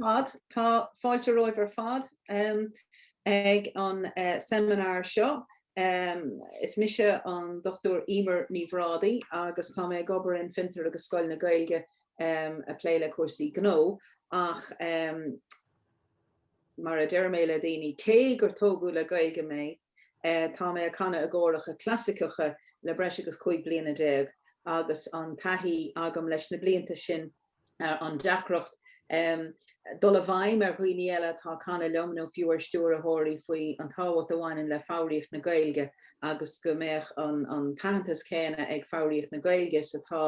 fad. Tá fáilte romhaibh ar fad ag an seimineár seo. Is mise an Dr Emer Ní Bhrádaigh agus tá mé ag obair in Fiontar agus Scoil na Gaeilge ag plé le cúrsaí gnó ach mar a deireadh mé le daoine, cé gur tógadh le Gaeilge mé, tá mé ag canadh i gcóracha clasaiceacha le breis agus 15 bliana agus an taithí agam leis na blianta sin an deacracht dul i bhfeidhm ar dhaoine eile atá ag canadh liom nó fiú ar stiúrthóirí faoi an tábhacht a bhaineann le foghraíocht na Gaeilge agus go mbeadh an t-aitheantas céanna ag foghraíocht na Gaeilge is atá,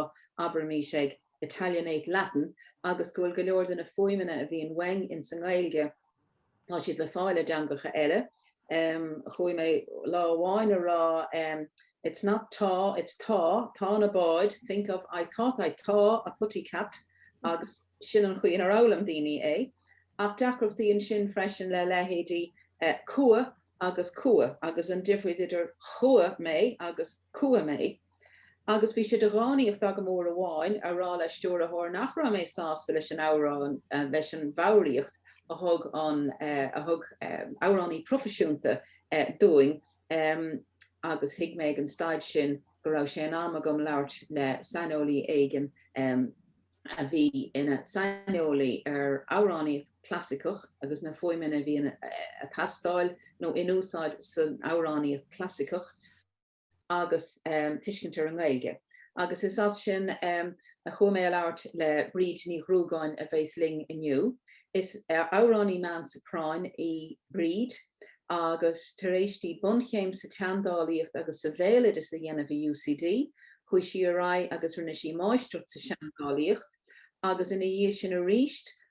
abraimis, ag 'Italianate Latin' agus go bhfuil go leor de na fuaimeanna a bhíonn uainn insa nGaeilge. tá siad le fáil i dteangacha eile. Chuaigh mé lá amháin a rá It's not tá, it's tá, tá na báid, think of I thought I tá a putty cat agus sin an chaoi inar fhoghlaim daoine é. Ach deacracht ansin freisin le leithéidí cuach agus chuaigh agus an difríocht idir chuaigh mé agus cuach mé. Agus bhí sé de dhánaíocht agam uair amháin a rá le stiúrthóir nach raibh mé sásta leis an amhrán, leis an bhfoghraíocht a thug an, a thug amhránaí proifisiúnta dúinn agus thuig mé ag an staid sin go raibh sé in am agam labhairt le saineolaí éigin a bhí ina saineolaí ar amhránaíocht chlasaiceach agus na fuaimeanna a bhí ag teastáil nó in úsáid san amhránaíocht chlasaiceach. agus tuiscint ar an nGaeilge, agus is as sin a chuaigh mé ag labhairt le Bríd Ní Ghruagáin a bheas linn inniu. Is amhránaí meán-soprán í Bríd agus tar éis di bunchéim sa tseandálaíocht agus sa bhéaloideas a dhéanamh i UCD, chuaigh sí ar aghaidh agus rinne sí máistreacht sa seandálaíocht agus ina dhiaidh sin aríst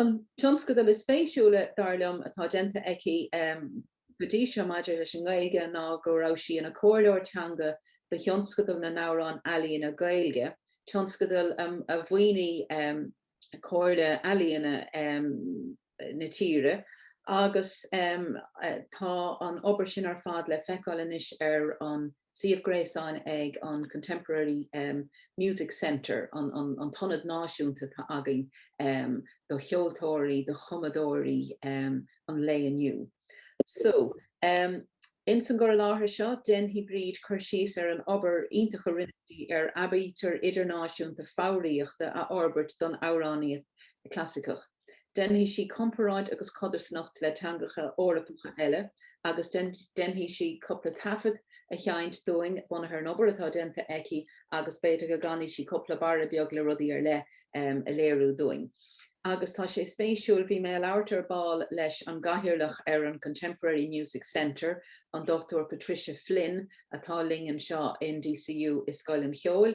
An tionscadal is spéisiúla, dar liom, atá déanta aici go dtí seo maidir leis an nGaeilge ná go raibh sí ina comhairleoir teanga do Thionscadal na nAmhrán Ealaíne Gaeilge, tionscadal a mhaoinigh Comhairle Ealaíona na tíre, agus tá an obair sin ar fad le feiceáil anois ar an. suíomh gréasáin ag an Contemporary Music Centre, an t-ionad náisiúnta atá againn do cheoltóirí, do chumadóirí an lae inniu. So, ins an gcur i láthair seo, déanfaidh Bríd cur síos ar an obair iontach a rinne sí ar aibítir idirnáisiúnta foghraíochta a fhorbairt don amhránaíocht chlasaiceach. déanfaidh sí comparáid agus codarsnacht le teangacha Eorpacha eile agus déanfaidh sí cupla taifead a sheint dúinn bunaithe ar an obair atá déanta aici agus b'fhéidir go gcanfaidh sí cupla barra beag le rudaí ar leith a léiriú dúinn. Agus tá sé spéisiúil, bhí mé ag labhairt ar ball leis an gCathaoirleach ar an Contemporary Music Centre, an Dr Patricia Flynn, atá linn anseo in DCU i Scoil an Cheoil,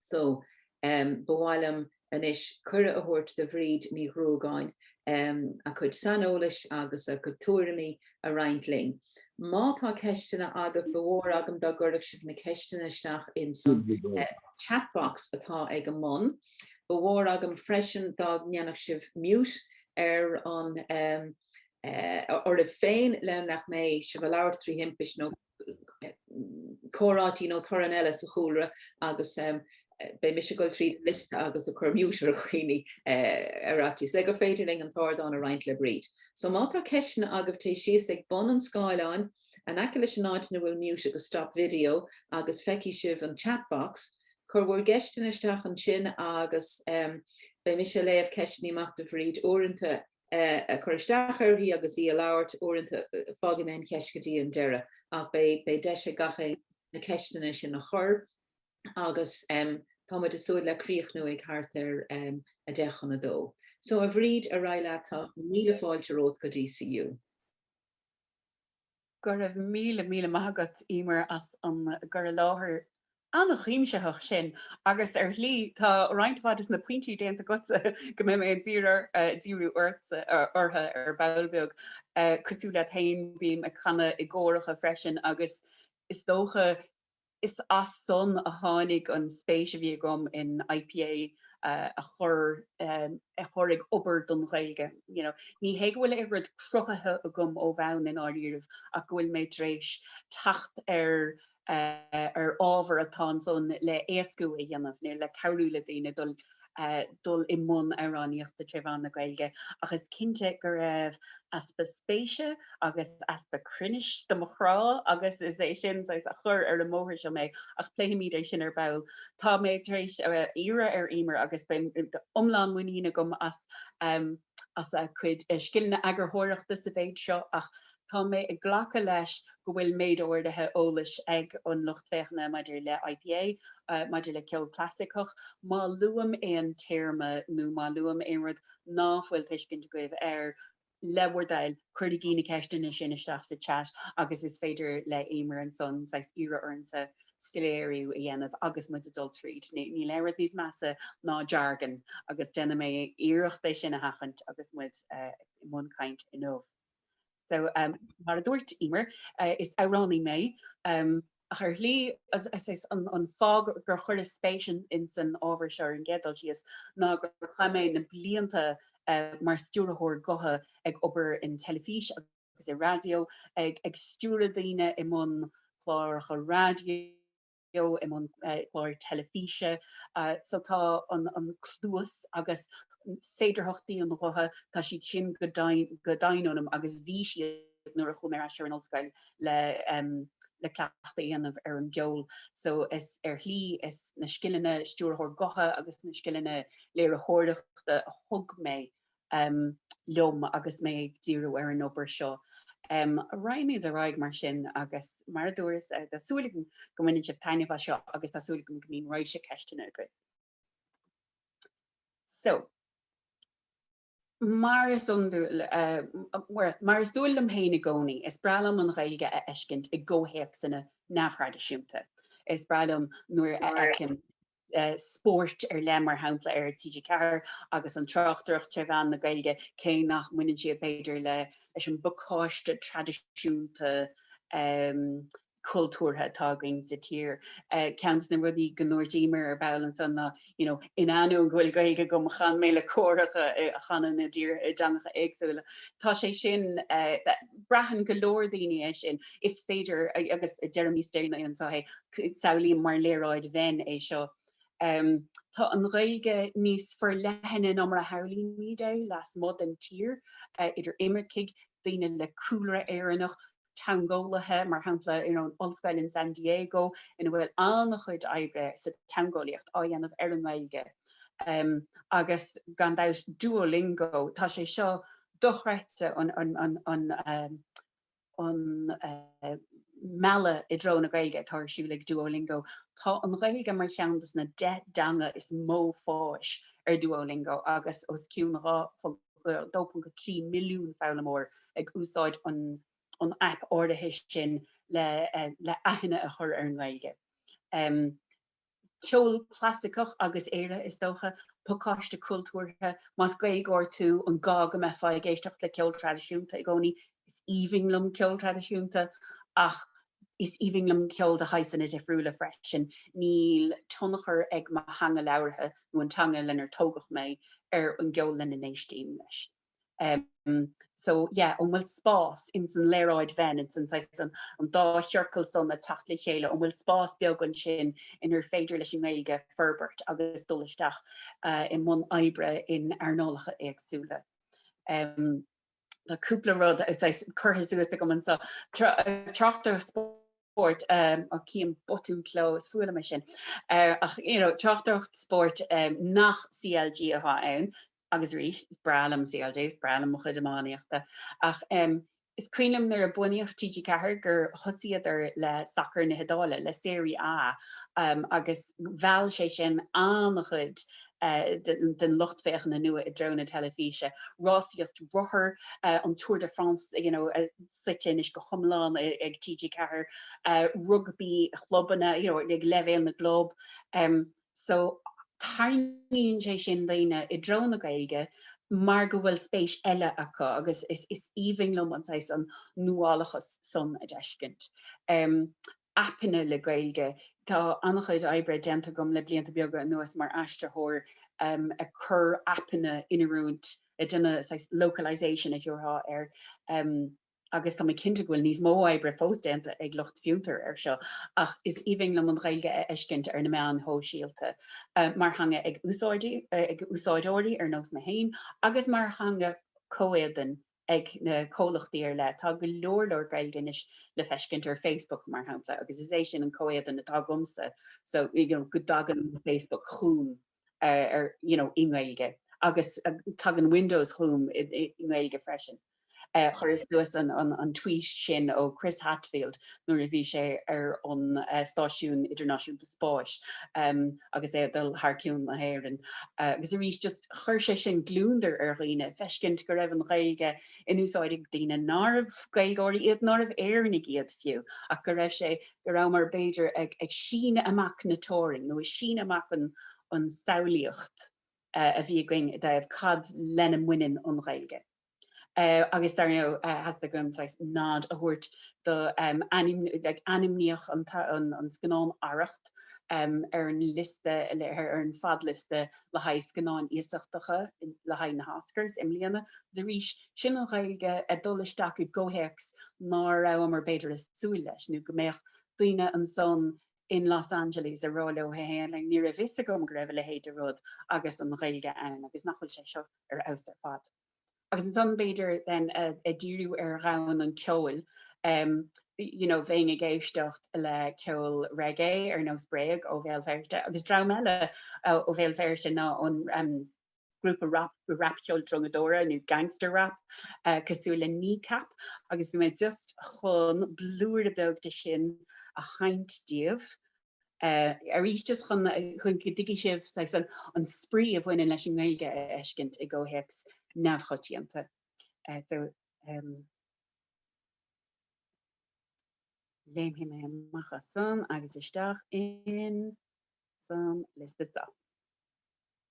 So, ba mhaith liom anois cuireadh a thabhairt do Bhríd Ní Ghruagáin a cuid saineolais agus a cuid tuairimí a roinnt linn. Má tá ceisteanna agaibh, ba mhór agam dá gcuirfeadh sibh na ceisteanna isteach insan chat box atá ag an mbun. Ba mhór agam freisin dá ndéanfadh sibh mute ar an, oraibh féin le nach mbeidh sibh ag labhairt trí thimpiste nó comhráití nó torann eile sa chúlra agus beidh mise ag dul tríd an liosta agus ag cur mute ar dhaoine ar fhaitíos le gur féidir linn an t-ardán a roinnt le Bríd. So má tá ceisteanna agaibh téigh síos go bun an scáileáin in aice leis an áit ina bhfuil mute agus stop video agus feicfidh sibh an chat box, cuir bhur gceisteanna isteach ansin agus beidh mise ag léamh ceisteanna amach do Bhríd. Uaireanta ag cur isteach uirthi agus í ag labhairt, uaireanta fágfaidh mé an cheist go dtí an deireadh ach beidh beidh deis ag gach éinne na ceisteanna sin a chur agus um, tá muid ag súil le críochnú ag thart ar um, a deich chun a dó. So a Bhríd ar aghaidh leat tá míle fáilte romhat go DCU. Go raibh míle míle maith agat, Éimear, as an gcur i láthair an-chuimsitheach sin agus, ar shlí, tá roinnt mhaith des na pointí déanta agatsa go mbeidh mé ag díriú orthu ar ball beag. Cosúil leat féin, bím ag canadh i gcóracha freisin agus is dócha, Is as san a tháinig an spéis a bhí agam in IPA a chur a chur ag obair don Ghaeilge you know. Ní hé go bhfuil aon rud cruthaithe agam ó bhonn, i ndáiríribh, ach go bhfuil mé tar éis teacht ar ar ábhar atá ansan le éascú a dhéanamh, nó le cabhrú le daoine dul dul i mbun amhránaíochta tré mheán na Gaeilge agus cinnte go raibh easpa spéise agus easpa cruinnis do mo chrá agus is é sin saghas a chur ar an mbóthar seo mé ach pléifimid é sin ar ball. Tá mé tar éis iarraidh ar Éimear agus beidh iomlán muinín agam as a cuid scileanna eagarthóireachta sa mhéid seo ach tá mé ag glacadh leis go bhfuil méid áirithe eolais ag an lucht féachana maidir le IPA, maidir le ceol clasaiceach. Má luaim aon téarma nó má luaim aon rud ná fuil tuiscint agaibh air, le bhur dtoil, cuirigí na ceisteanna sin isteach sa chat agus is féidir le Éimear ansan saghas iarraidh ormsa soiléiriú a dhéanamh agus muid ag dul tríd. Níl aon rud níos measa ná jargon agus déanfaidh mé iarracht é sin a sheachaint agus muid i mbun caint inniu. So, mar a dúirt Emer, is amhránaí mé, ach ar shlí, is an fáth gur chuireas spéis ins an ábhar seo ar an gcéad dul síos ná gur chaith mé na blianta mar stiúrthóir gutha ag obair in teilifís agus, agus i raidió, ag stiúradh daoine i mbun cláracha raidió, i mbun cláir teilifíse. So tá an cluas agus féidearthachtaí an ghutha, tá siad sin go doimhin ionam agus bhí siad nuair a chuaigh mé ar ais ar an ollscoil le cleachtadh a dhéanamh ar an gceol. So is ar shlí, is na scileanna stiúrthóir gutha agus na scileanna léiritheoireachta a thug mé liom agus mé ag díriú ar an obair seo. Raghaimid ar aghaidh mar sin agus mar a dúras tá súil agam go mbaineann sibh taitneamh as seo agus tá súil agam go mbíonn raidhse ceisteanna agaibh. So, mar is iondúil, mar is dual dom féin i gcónaí, is breá liom an Ghaeilge a fheiscint i gcomhthéacsanna neamhthraidisiúnta. Is breá liom nuair a fheicim. spóirt ar leith, mar shampla ar TG4 agus an tráchtaireacht tre mheán na Gaeilge, cé nach mbaineann siad b'fhéidir leis an bpacáiste traidisiúnta cultúrtha atá againn sa tír. Ceann des na rudaí go ndúirt Emer ar ball ansan ná, you know, in ainneoin go bhfuil Gaeilge agam, chan mé le córacha a chanann díreach i dteangacha éagsúla. Tá sé sin, braitheann go leor daoine é sin, is féidir, agus Jeremy Stern anseo é, Samhlaím mar léaráid Venn é seo. Tá an Ghaeilge níos forleithne ná mar a shamhlaímid é lasmuigh den tír, idir imircigh, daoine le cúlra Éireannach, teangeolaithe, mar shampla in Ollscoil in San Diego ina bhfuil an-chuid oibre sa teangeolaíocht á dhéanamh ar an nGaeilge. Agus gan dabht Duolingo, tá sé seo dochreidte, an an mealladh i dtreo na Gaeilge atá ar siúl ag Duolingo, tá an Ghaeilge mar cheann des na deich dteanga is mó fáis ar Duolingo agus os cionn 2.3 milliún foghlaimeoir ag úsáid an aip áirithe sin le aithne a chur ar an nGaeilge. ceol clasaiceach agus Éire, is dócha, pacáiste cultúrtha, más Gaeilgeoir tú, an gá go mbeifeá ag éisteacht le ceol traidisiúnta i gcónaí? Is aoibhinn liom ceol traidisiúnta ach is aoibhinn liom ceol de shaghsanna difriúla freisin. Níl tionchar ag mo theanga labhartha nó an teanga lenar tógadh mé ar an gceol lena n-éistim, leis. so yeah an bhfuil spás ins an léaráid Venn ins an saghas an an dá chiorcal san a teacht le chéile an bhfuil spás beag ansin inar féidir leis an nGaeilge forbairt agus dul isteach i mbun oibre in earnálacha éagsúla. tá cúpla rud saghas curtha suas agam anso tráchtaireacht spóirt á chím botún cló is fuath liom é sin ach you know tráchtaireacht spóirt nach CLG atá ann agus arís, is breá liom CLG, is breá liom mo chuid iománaíochta ach, em, is cuimhin liom nuair a bunaíodh TG4 gur thosaíodar le sacar na hIodáile, le Serie A, em, agus mheall sé sin an-chuid, eh, den, den lucht féachana nua i dtreo na teilifíse. Rásaíocht rothar, eh, an Tour de France, you know, eh, suite anois go hiomlán ag TG4, eh, rugbaí clubanna, you know, ag leibhéal na gclub, em, so tarraingíonn sé sin daoine i dtreo na Gaeilge mar go bhfuil spéis eile acu agus is aoibhinn liom an saghas an nuálachas san a d'fheiscint. Aipeanna le Gaeilge, tá an-chuid oibre déanta agam le blianta beaga anuas mar aistritheoir ag cur aipeanna in oiriúint, ag déanamh saghas localisation a thiúrfá air, agus tá mé cinnte go bhfuil níos mó oibre fós déanta ag lucht Fiontar ar seo, ach is aoibhinn liom an Ghaeilge a fheiscint ar na meáin shóisialta, mar theanga ag úsáideoirí ar nós mé féin agus mar theanga comhéadain ag na comhlachtaí ar leith. Tá go leor leor Gaeilge anois le feiscint ar Facebook, mar shampla, agus is é sin an comhéadan atá agamsa, so you know go dtagann Facebook chugam ar you know i nGaeilge agus tagann Windows chugam i nGaeilge freisin. Chuireas suas an tweet sin ó Chris Hadfield nuair a bhí sé ar an Stáisiún Idirnáisiúnta Spáis agus é ag dul thar ceann na hÉireann agus arís just chuir sé sin gliondar ar dhaoine, feiscint go raibh an Ghaeilge in úsáid ag daoine nárbh Gaeilgeoirí iad, nárbh Éireannaigh iad fiú ach go raibh sé, go rabhamar b'fhéidir ag síneadh amach na dteorainn nó ag síneadh amach an samhlaíocht a bhí againn i dtaobh cad lena mbaineann an Ghaeilge. agus dar ndóigh theastaigh uaim saghas nod a thabhairt do ainmníodh an scannán Arracht ar an liosta, ar an fadliosta le haghaidh scannáin iasachtacha le haghaidh na hOscars i mbliana arís sin an Ghaeilge ag dul isteach i gcomhthéacs nár rabhamar b'fhéidir ag súil leis nó go mbeadh daoine ansan in Los Angeles ag rá leo féin, ní raibh fhios agam go raibh a leithéid de rud agus an Ghaeilge ann agus nach bhfuil sé seo ar fheabhas ar fad. Agus ansan b'fhéidir then ag díriú ar dhomhan an cheoil you know bheinn ag éisteacht le ceol reggae ar nós Bréag ó Bhéal Feirste agus dream eile ó Bhéal Feirste ná ón grúpa rapcheol drongadóra nó gangster rap cosúil le Kneecap agus bhí mé just chun blúire beag de sin a sheinnt daoibh. Arís just chun chun go dtuigfidh sibh saghas an an spraoi a bhaineann leis an nGaeilge a fheiscint i gcomhthéacs neamhchoitianta. So léimfidh mé amach as san agus isteach in san liosta seo.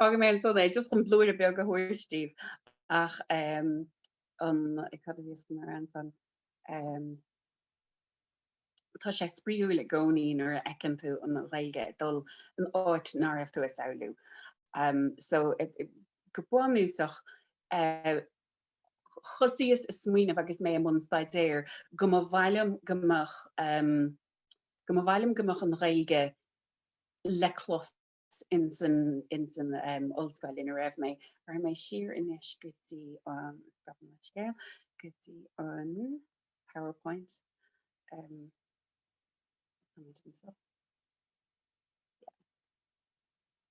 Fágfaidh mé ansan é, just chun blúire beag a thabhairt daoibh ach cad a bhí mé a rá ansan? Tá sé spraíúil i gcónaí nuair a fheiceann tú an Ghaeilge ag dul in áit nár raibh tú ag samhlú. So go bunúsach, thosaíos ag smaoineamh agus mé i mbun staidéir go mba mhaith liom go mbeadh go mba mhaith liom go mbeadh an Ghaeilge le clos, ins an ollscoil ina raibh mé. Cuirfidh mé siar anois go dtí an, stopann an scéal, go dtí an powerpoint. Táimid anseo. Yeah.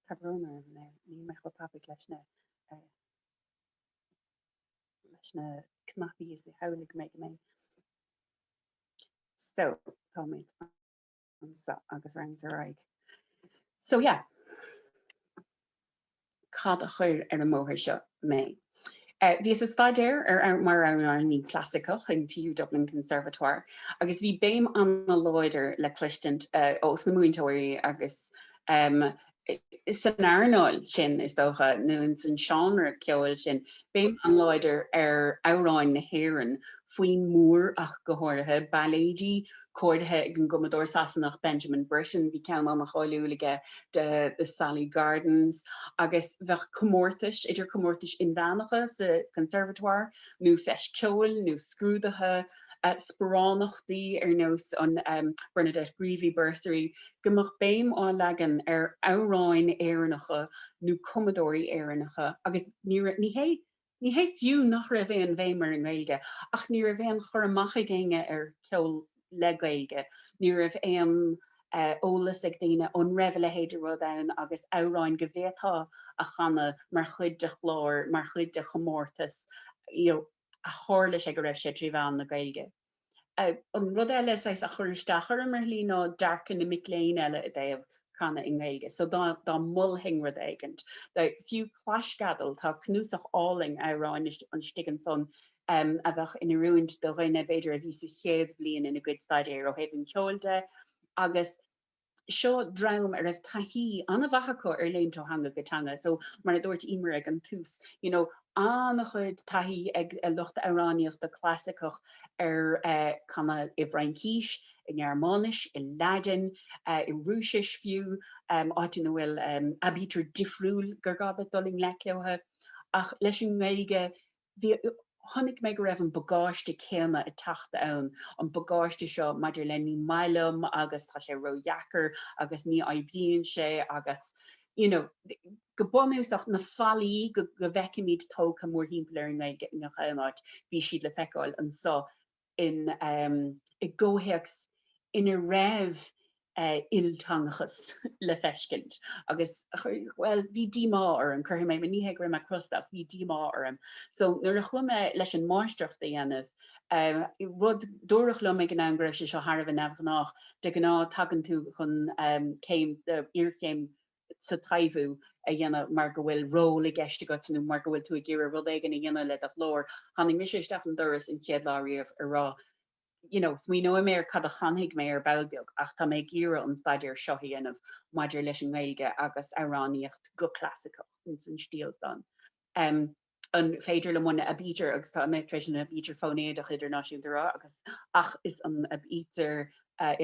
Tá brón orm now, níl mé chomh tapaidh leis na, leis na cnaipí is a shamhlaigh mé go mbeinn. So, táimid. anseo agus roinnt ar aghaidh. So yeah. Cad a chuir ar an mbóthar seo mé? Eh, bhíos ag staidéar mar mar amhránaí clasaiceach in TU Dublin Conservatoire agus bhí béim an-láidir le cloisint eh, ó sna múinteoirí agus em, san earnáil sin, is dócha, nó in san seánra ceoil sin, béim an-láidir ar amhráin na hÉireann, foinn Moore ach go háirithe, bailéid cóirithe ag an gcumadóir Sasanach Benjamin Britten, bhí ceann an-cháiliúil aige de The Sally Gardens, agus bheadh comórtais, idir comórtais inmheánacha sa Conservatoire nó Feis Ceoil nó scrúduithe, sparánachtaí ar nós an Bernadette Greevy Bursary, go mbeadh béim á leagan ar amhráin Éireannacha nó cumadóirí Éireannacha agus ní raibh, ní hé, ní hé fiú nach raibh aon bhéim ar an nGaeilge ach ní raibh aon chur amach ag éinne ar cheol le Gaeilge, ní raibh aon eolas ag daoine an raibh a leithéid de rud ann agus amhráin go bhféadfá a chanadh mar chuid de chlár, mar chuid de chomórtas, you know. a tharla sé go raibh sé trí mheán na Gaeilge. An rud eile saghas a chuir isteach orm ar shlí ná dearcadh na mic léinn eile i dtaobh canadh i nGaeilge. So dá dá molfainn rud éigint, fiú claisceadal, tá cnuasach álainn amhrán istigh ansan a bheadh in oiriúint do dhuine b'fhéidir a bhí sa chéad bhliain ina gcuid staidéir ó thaobh an cheoil de agus seo dream a raibh taithí an-mhaith acu ar léimt ó theanga go teanga so mar a dúirt Emer ag an tús you know an-chuid taithí ag lucht amhránaíochta clasaiceach ar canadh i bhFraincís, i nGearmáinis, i Laidin, i Rúisis fiú, áit ina bhfuil aibítir difriúil gur gá duit dul i ngleic leo, ach leis an nGaeilge bhí, chonaic mé go raibh an bagáiste céanna ag teacht ann, an bagáiste seo maidir le ní maith liom agus tá sé ró-dheacair agus ní oibríonn sé agus you know go bunúsach na fallaí go bhfeicimid tógtha mórthimpeall ar chuile háit, bhí siad le feiceáil anseo. in, i gcomhthéacs ina raibh ilteangachas le feiscint agus bhuel, bhí díomá orm, cuirfidh mé, ní hé go raibh mé crosta ach bhí díomá orm. So nuair a chuaigh mé leis an máistreacht a dhéanamh, rud, dúradh liom ag an am go raibh sé seo thar a bheith neamhghnách, de ghnáth tagann tú chun céim, iarchéim sa taibhiú a dhéanamh mar go bhfuil ról i gceist agat nó mar go bhfuil tú ag iarraidh rud éigin a dhéanamh le do ghlór. Tháinig mise isteach an doras an chéad lá riamh ag rá you know, smaoineoidh mé ar cad a chanfaidh mé ar ball beag ach tá mé ag iarraidh an staidéar seo a dhéanamh maidir leis an nGaeilge agus amhránaíocht chlasaiceach ins an stíl san. Um, an féidir liom an aibítir, agus tá mé tar éis an aibítir fóinéiteach idirnáisiúnta a rá, agus ach is an aibítir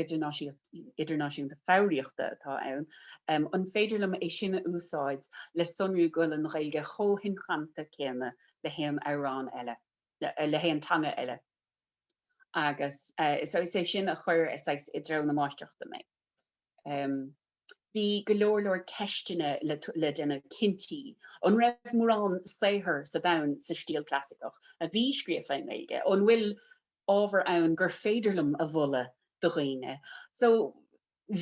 idirnáisiúnta idirnáisiúnta foghraíochta atá ann, an féidir liom é sin a úsáid le sonrú go bhfuil an Ghaeilge chomh hinchanta céanna le haon amhrán eile, le haon teanga eile? Agus is é sin a chuir saghas i dtreo na máistreachta mé. bhí go leor leor ceisteanna le déanamh cinnte, an raibh mórán saothar sa domhan sa stíl chlasaiceach a bhí scríofa i nGaeilge, an bhfuil ábhar ann gur féidir liom a mholadh do dhaoine? So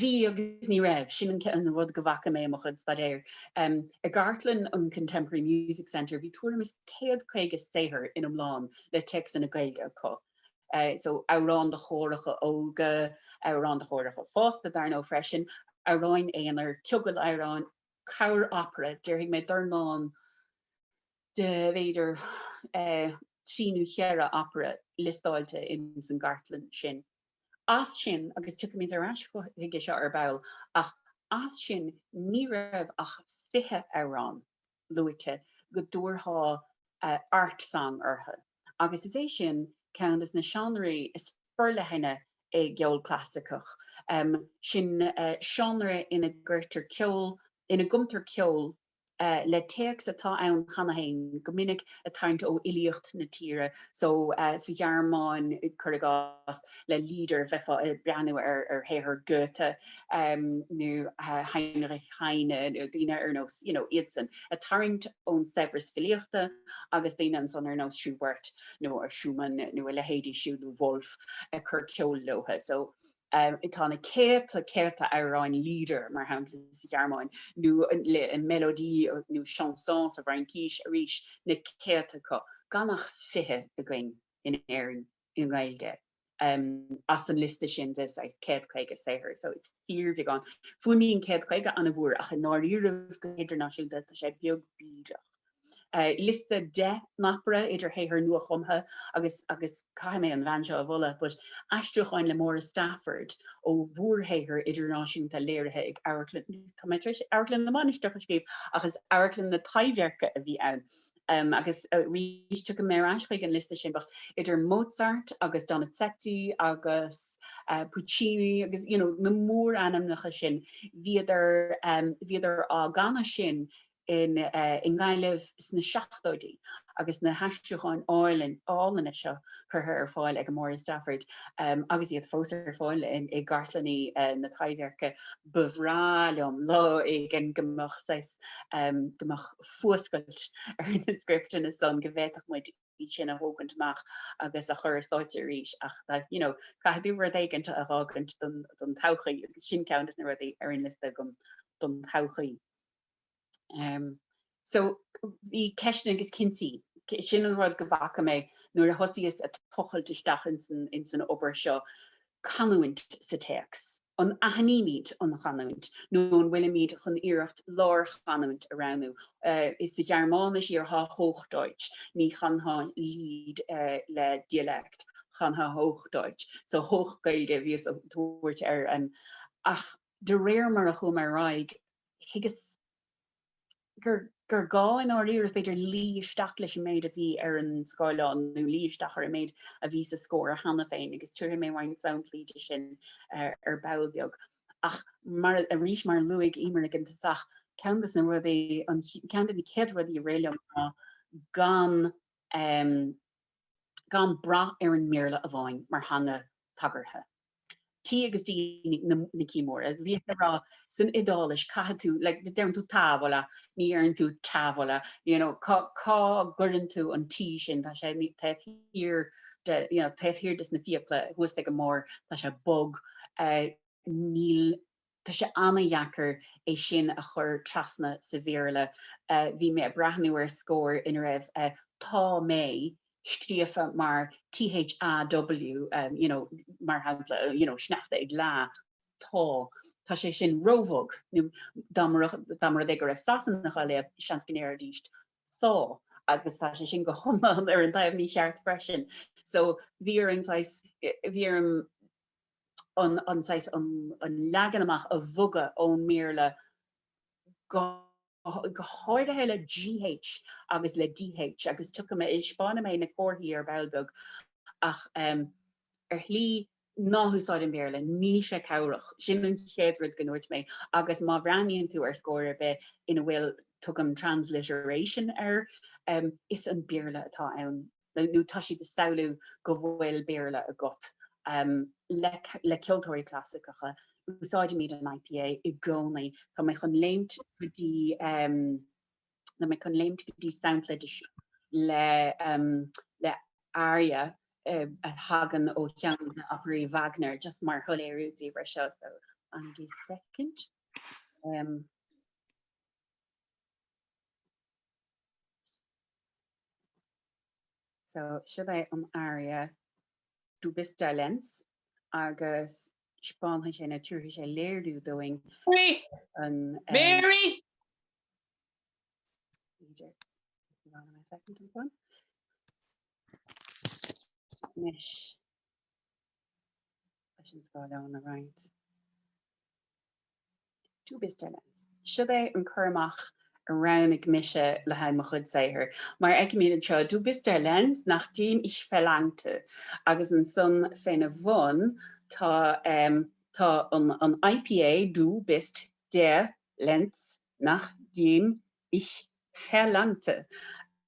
bhí agus ní raibh, sin an rud go bhfaca mé i mo chuid staidéir. I gcartlann an Contemporary Music Centre bhí tuairim is céad caoga saothar in iomlán le téacsanna Gaeilge acu. so amhráin do chóracha óga, amhráin do chóracha fásta dar ndóigh freisin, amhráin aonair, ciogail amhráin, cúpla opera, déarfaidh mé dornán de bhféidir trí nó cheithre opera liostáilte ins an gcartlann sin. As sin, agus tiocfaimid ar ais chuige seo ar ball, ach as sin ní raibh ach fiche amhrán luaite go dtabharfá art song orthu agus is é sin ceann de na seánraí is forleithne i gceol clasaiceach, sin seánra ina gcuirtear ceol, ina gcumtar ceol le téacs atá ann cheana féin, go minic ag tarraingt ó fhilíocht na tíre so. Sa Ghearmáin, cuir i gcás, le Lieder bheifeá ag breathnú ar shaothar Goethe, nó Heinrich Heine nó daoine ar nós, you know, iadsan, ag tarraingt ón saibhreas filíochta agus daoine ansan ar nós Schubert nó Schumann nó a leithéidí siúd nó Wolf ag cur ceoil leo. So, tá na céadta, céadta amhráin Lieder, mar shampla, sa Ghearmáin, nó le mélodies nó chansons sa bhFraincis, arís, na céadta acu, gan ach fiche againn in Éirinn. i nGaeilge as an liosta sin de saghas 150 saothar. So it's fíorbheagán. Fuaimníonn 150 ana mhór ach i ndáiríribh go hidirnáisiúnta tá sé beag bídeach. Liosta 10 n-opera idir shaothar nuachumtha agus agus caithfidh mé an bhean seo a mholadh but aistriúcháin le Máire Stafford ó mhórshaothar idirnáisiúnta léirithe ag Amharclann, tá mé tar éis Amharclann na Mainistreach a scríobh, ach is Amharclann na Taibhdheirce a bhí ann. agus arís tiocfaidh mé ar ais chuig an liosta sin bheadh idir Mozart agus Donizetti agus Puccini agus you know na mórainmneacha sin bhídís bhídís á gcanadh sin in i nGaillimh sna seachtóidí agus na haistriúcháin álainn álainne seo curtha ar fáil ag Máire Stafford agus iad fós ar fáil i gcartlanna na Taibhdheirce. Ba bhreá liom lá éigin go mbeadh saghas go mbeadh fuascailt ar na scripteanna san go bhféadfadh muid sin a thógaint amach agus a chur ar stáitse arís ach you know caithfidh tú rud éigin a fhágaint don todhchaí agus sin ceann de na rudaí ar an liosta agam don todhchaí. Um, so bhí ceisteanna agus cinntí sin an rud go bhfaca mé nuair a thosaíos ag tochailt isteach in san, in san obair seo canúint sa téacs. An aithnímid an chanúint nó an bhfuilimid chun iarracht lárchanúint a roghnú? Sa Ghearmáinis iarrfá Hochdeutsch, ní chanfá Lied le dialect, chanfá Hochdeutsch, so Hochgaeilge a bhíos á tabhairt air ach de réir mar a chuamar ar aghaidh, thuigeas. gur gá i ndáiríre, b'fhéidir, luí isteach leis an méid a bhí ar an scáileán nó luí isteach ar an méid a bhí sa scór cheana féin agus tabharfaidh mé roinnt samplaí de sin ar ball beag. Ach mar arís, mar a luaigh Emer ag an tosach, ceann des na rudaí, ceann de na céad rudaí a rith liom ná gan gan brath ar an mBéarla amháin mar theanga tagartha. T agus D na C, mar a bhíos ag rá san Iodáilis caithfidh tú like deireann tú tavola, ní dheireann tú tavola, you know cá gcuireann tú an T sin, tá sé taobh thiar de, you know taobh thiar de na fiacla thuas ag an mbarr, tá sé bog, níl. Tá sé ana-dheacair é sin a chur trasna sa Bhéarla. Bhí mé ag breathnú ar scór ina raibh Tá mé scríofa mar THAW, you know, mar shampla, you know, sneachta ag leá, tá. Tá sé sin róbhog. Nó dá mba rud, dá mba rud é go raibh Sasanach á léamh, seans go ndéarfaidís Thaw agus tá sé sin go hiomlán ar an taobh mícheart freisin. So bhí orm saghas, bhí orm an leagan amach a bhogadh ón mBéarla go háirithe le GH agus le DH agus tiocfaidh mé, spáinfidh mé na comharthaí ar ball beag ach ar shlí ná húsáid an Béarla, níl sé cabhrach, sin an chéad rud go ndúirt mé agus má bhreathnaíonn tú ar scór ar bith ina bhfuil, tugaim transliteration air, is an Béarla atá ann. nó tá siad ag samhlú go bhfuil Béarla agat. Le ceoltóirí clasaiceacha, úsáidimid an IPA i gcónaí. Tá mé chun léimt go dtí tá mé chun léimt go dtí sampla de seo le le aria a thagann ó cheann de operaí Wagner, just mar shoiléiriú daoibh ar seo. So, fanaigí soicind. So, seo é an aria Du bist der Lenz agus spáinfidh sé nó tabharfaidh sé léiriú dúinn an Mary! Mary! Anois leis an scáileán a roinnt. Du bist der Lenz. Siod é an cur amach a roghnaigh mise le haghaidh mo chuid saothair, mar fheicimid anseo, Du bist der Lenz, nach dem ich verlangte, agus ansan féna bhun tá tá an IPA, Du bist der Lenz, nach dem ich verlangte,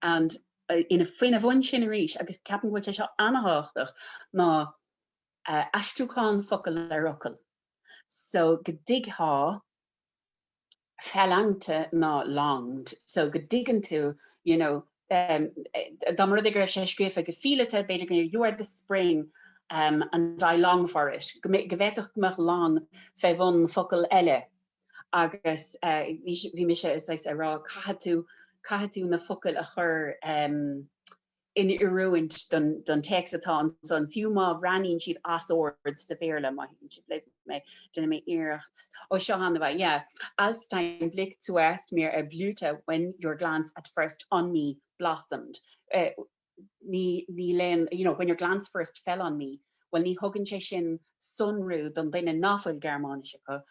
and ina féna bhun sin arís, agus ceapaim go bhfuil sé seo ana-thábhachtach, ná aistriúchán focal ar fhocal. so go dtuig tá verlangte ná longed, so go dtuigeann tú, you know, em, dá mba rud é go raibh sé scríofa go fileata, b'fhéidir go you are the spring, em, and I long for it, go mbeidh, go bhféadfadh go mbeadh long fé bhun focal eile agus, eh, bhí si, bhí mise, a saghas, a rá caithfidh tú, caithfidh tú na focail a chur, em, in oiriúint don téacs atá ansan, fiú má bhreathnaíonn siad as ord sa Bhéarla, maith sibh. Déanfaidh mé iarracht. Ó, seo ann é, yeah. Als dein Blick zuerst mir erblühte, when your glance at first on me blossomed. Ní léann, you know, when your glance first fell on me, bhuel, ní thugann sé sin sonrú don duine nach bhfuil Gearmáinis acu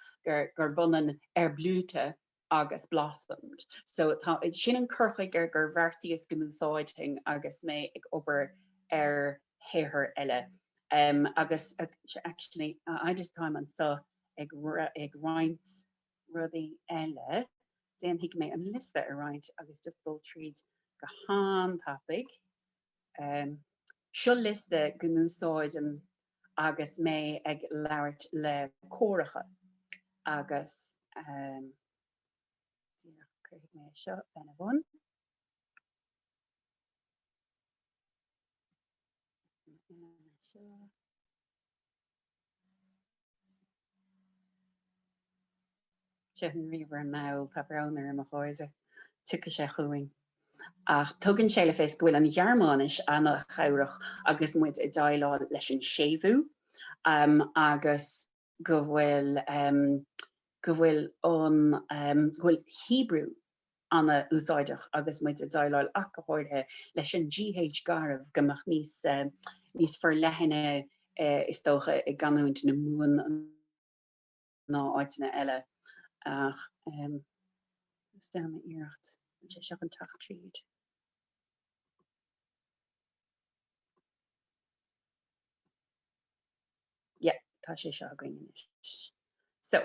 gurb ionann erblühte, agus blossomed. So tá, sin an cur chuige ar bheartaíos go n-úsáidfinn agus mé ag obair ar shaothair eile. Agus actually I just táim anseo ag ag roinnt rudaí eile, déanfaidh mé an liosta a roinnt agus just dul tríd go han-tapaidh. Seo liosta go n-úsáidim agus mé ag labhairt le córacha agus cuirfidh mé seo lena bhun. Sure. Tá an ríomhaire an-mhall, tá brón orm a chairde, tiocfaidh sé chugainn. Ach tugann sé le fios go bhfuil an Ghearmáinis an-chabhrach agus muid ag déileáil leis an séimhiú agus go bhfuil go bhfuil an go bhfuil Hebrew an-úsáideach agus muid ag déileáil ach go háirithe leis an gh garbh a mbeadh níos níos forleithne is dócha i gcanúint na Mumhan ná áiteanna eile ach déanfaidh mé iarracht an bhfuil sé seo chun teacht tríd. Yeah tá sé seo againn anois. So.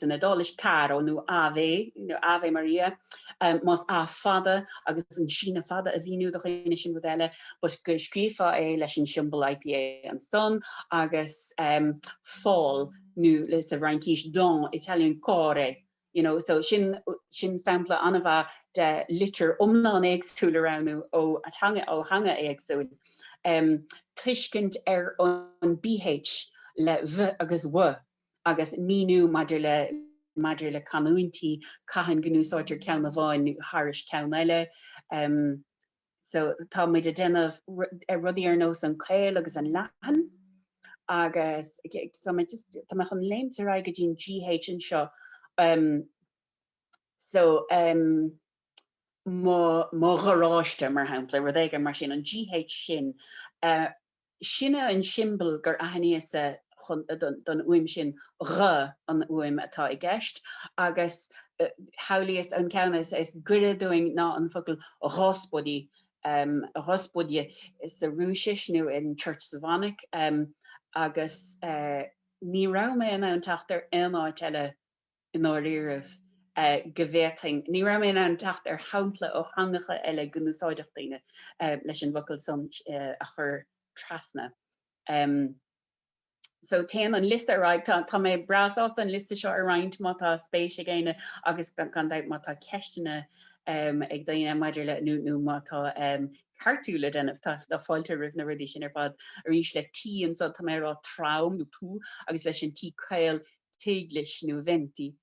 san Iodáilis, caro, nó Ave, Ave Maria, más a fada agus an síneadh fada a mhíniú do dhaoine sin rud eile, but go scríobhfá é leis an siombail IPA ansan, agus fall, nó leis an bhFraincis, don, Italian, corre, you know, so sin, sin sampla an-mhaith de litir iomlán éagsúil a roghnú ó theanga, ó theanga éagsúil. Tuiscint ar an bh le v agus w agus míniú maidir le maidir le canúintí, cathain go n-úsáidtear ceann amháin thar ceann eile. So tá muid a déanamh rudaí ar nós an caol agus an leathan agus tá mé chun léimt ar aghaidh go dtí an GH anseo. So mo gharáiste mar shampla, rud éigin mar sin, an GH sin Sin é an siombail gur aithníos-sa don fhuaim sin, gh, an fhuaim atá i gceist agus shamhlaíos an ceann is goire dúinn ná an focal Ghospodi, Ghospodi sa Rúisis nó in Church Slavonic agus ní raibh mé in ann teacht ar aon áit eile i ndáiríribh, go bhféadfainn, ní raibh mé in ann teacht ar shampla ó theangacha eile go n-úsáidfeadh daoine leis an bhfocal san a chur trasna. So téann an liosta ar aghaidh, tá mé breá sásta an liosta seo a roinnt má tá spéis ag éinne agus gan dabht má tá ceisteanna ag daoine maidir le, nó má tá ceartú le déanamh, tá fáilte roimh na rudaí sin ar fad. Arís le T anso tá mé ag rá trom nó tú agus leis an T caol teaghlais nó venti,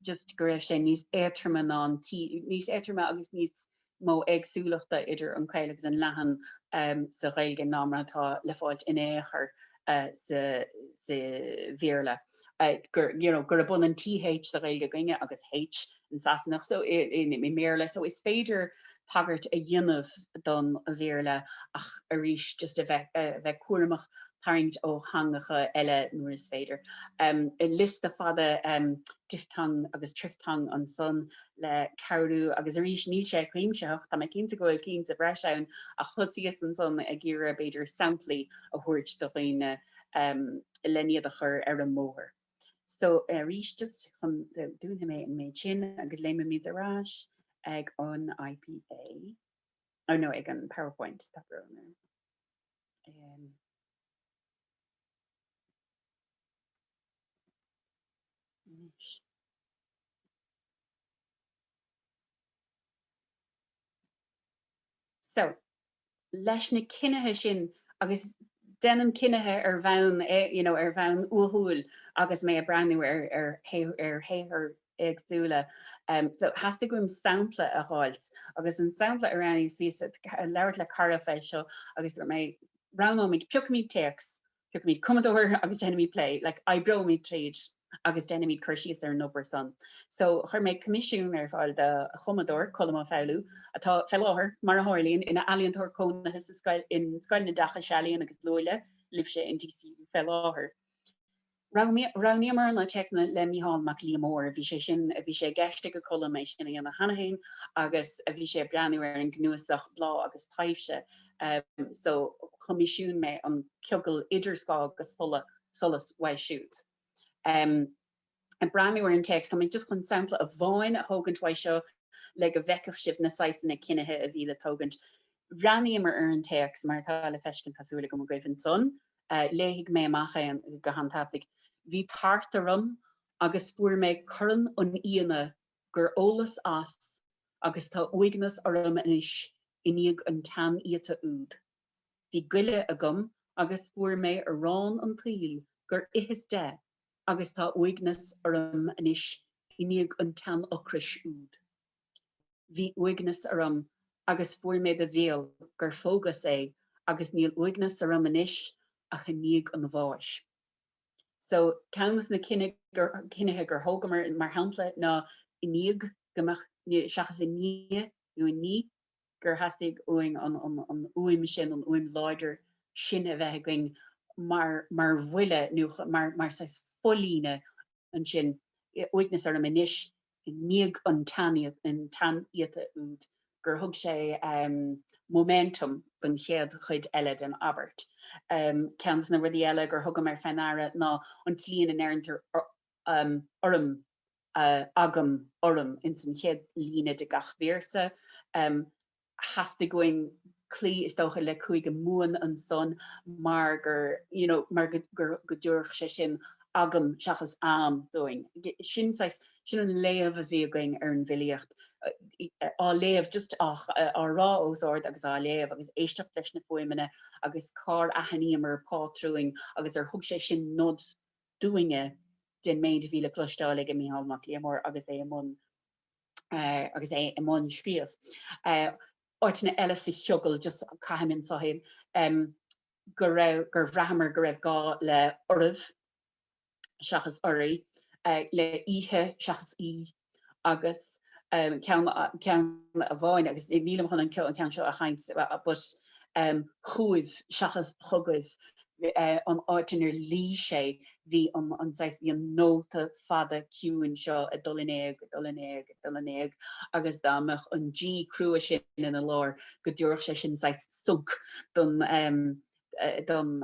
just go raibh sé níos éatroma ná an T, níos éatroma agus níos mó éagsúlachta idir an caol agus an leathan sa Ghaeilge ná mar atá le fáilt in aon chor sa Bhéarla, you know, gurb ionann TH sa Ghaeilge againne agus H an Sasanach so i mBéarla so is féidir tagairt a dhéanamh don Bhéarla ach arís just a bheith a bheith cúramach tarraingt ó theangacha eile nuair is féidir. Liosta fada diphthong agus triphthong ansan le cabhrú agus arís níl sé cuimsitheach, tá mé cinnte go bhfuil cinn sa bhreis ann ach thosaíos ansan ag iarraidh b'fhéidir samplaí a thabhairt do dhaoine len iad a chur ar an mbóthar. So, arís, just chun dúnfaidh mé an méid sin agus léimeoimid ar ais ag an IPA, oh no, ag an PowerPoint, tá brón orm. Um, So, leis na cinnithe sin, agus déanaim cinnithe ar bhonn, you know, ar bhonn uathúil agus mé ag breathnú ar, ar, ar shaothair éagsúla, em, so theastaigh uaim sampla a dh'fháilt agus an sampla a roghnaíos, bhíos ag labhairt le cara fé seo agus dúirt mé, roghnóimid, piocfaimid téacs Piocfaimid cumadóir agus déanfaimid plé, like oibreoimid tríd agus déanfaimid cur síos ar an obair san. So chuir mé coimisiún ar fáil do chumadóir, Colm Ó Foghlú, atá fé láthair, mar a tharlaíonn, ina ealaíontóir cónaithe sa scoil, in Scoil an Oideachais Ealaíon agus Luaile, libhse in DCU fé láthair. Roghnaíomar na téacsanna le Mícheál Mac Liammóir, bhí sé sin a bhí sé i gceist ag Colm é sin a dhéanamh cheana féin agus bhí sé ag breathnú ar an gcnuasach Bláth agus Taibhse, so choimisiúin mé an ciogal idir scáth agus solas uaidh siúd. Ag breathnú ar an téacs, tá mé just chun sampla amháin a thógaint uaidh seo le go bhfeicfeadh sibh na saghsanna cinnithe a bhí le tógaint. Bhreathnaíomar ar an téacs mar atá le feiscint tá súil agam, agaibh ansan. Léifidh mé amach é go han-tapaidh. Bhí tart orm agus fuair mé corn an fhíona gur ólas as agus tá uaigneas orm anois i ndiaidh an tsean-íota úd. Bhí goile agam agus fuair mé arán an tsaoil gur itheas de agus tá uaigneas orm anois i ndiaidh an tsean-ocrais úd. Bhí uaigneas orm agus fuair mé do bhéal gur phógas é agus níl uaigneas orm anois ach i ndiaidh an bháis. So, ceann des na cinnithe gur thógamar, mar shampla, ná i ndiaidh go mbeadh, seachas i ndiaidh nó i ndiaidh gur theastaigh uainn an uaim sin, an uaim láidir sin a bheith againn mar bhuille nó mar saghas folíne ansin, uaigneas orm anois i ndiaidh an tsean-íota úd gur thug sé momentum don chéad chuid eile den abairt. Ceann des na rudaí eile gur thugamar fé ndeara ná an tslí ina ndeireantar orm, agam, orm ins an chéad líne de gach véarsa. theastaigh uainn cloí is dócha le Cúige Mumhan ansan mar gur, you know, mar gur, go dtabharfadh sé sin agam seachas a'm dúinn. Sin saghas, sin an léamh a bhí againn ar an bhfilíocht, á léamh just á rá os ard agus á léamh agus éisteacht leis na fuaimeanna agus cár aithníomar pátrúin agus ar thug sé sin nod dúinne den méid a bhí le cloisteáil aige Micheál Mac Liammóir agus é i mbun agus é i mbun scríobh áiteanna eile sa chiogal just caithfidh mé Sohail go raibh gur bhraitheamar go raibh gá le oraibh seachas oraí, le oíche seachas í agus ceann amháin agus nílim chun an ceann seo a sheinnt but chúibh seachas chugaibh. an áit inar luigh sé, bhí an, saghas, bhí an nóta fada ciúin seo ag dul in éag, ag dul in éag, ag dul in éag agus dá mbeadh an G crua sin ina lár go dtabharfadh sé sin saghas sonc don, don,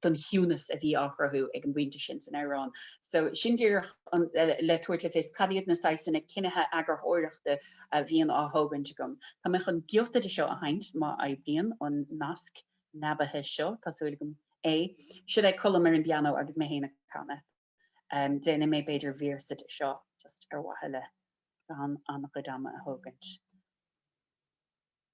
don chiúnas a bhí á chruthú ag an bpointe sin san amhrán. So, sin díreach le tabhairt le fios cad iad na saghsanna cinnithe eagarthóireachta a bhíonn á thógaint agam. Tá mé chun giota de seo a sheinnt, má oibríonn an nasc leabaithe seo, tá súil agam é. Siod é Colm ar an bpianó agus mé féin ag canadh. Déanfaidh mé b'fhéidir véarsa de seo just ar mhaithe le gan an-chuid ama a thógaint.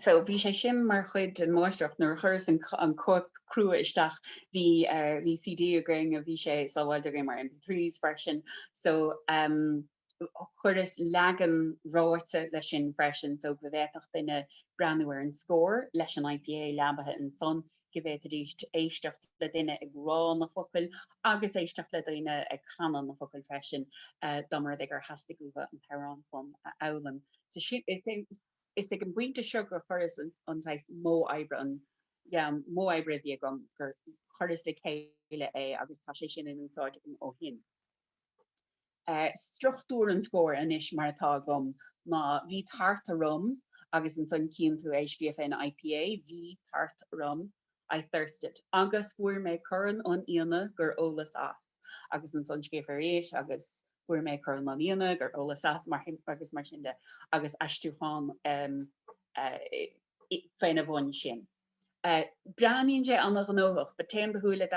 So bhí sé sin mar chuid den mháistreacht nuair a chuireas an chóip chrua isteach bhí bhí CD againn a bhí sé sábháilte againn mar MP3s freisin so umm. chuireas leagan ráite leis sin freisin so go bhféadfadh duine breathnú ar an scór leis an IPA leabaithe ansan, go bhféadfaidís éisteacht le duine ag rá na focail agus éisteacht le daoine ag canadh na focail freisin dá mba rud é gur theastaigh uathu an t-amhrán san a fhoghlaim. So is ag an bpointe seo gur chuireas an saghas modh oibre, an, yeah, an modh oibre a bhí agam, gur chuireas le chéile é agus tá sé sin in úsáid agam ó shin. Struchtúr an scóir anois mar atá agam ná bhí tart orm agus ansan cíonn tú é scríofa in IPA, bhí tart orm, I thirsted, agus fuair mé Corn an Fhíona gur ólas as agus ansan scríofa arís agus fuair mé Corn an Fhíona gur ólas as agus mar sin de agus aistriúchán faoina bhun sin. Breathnaíonn sé an-ghnóthach, but téann do shúile i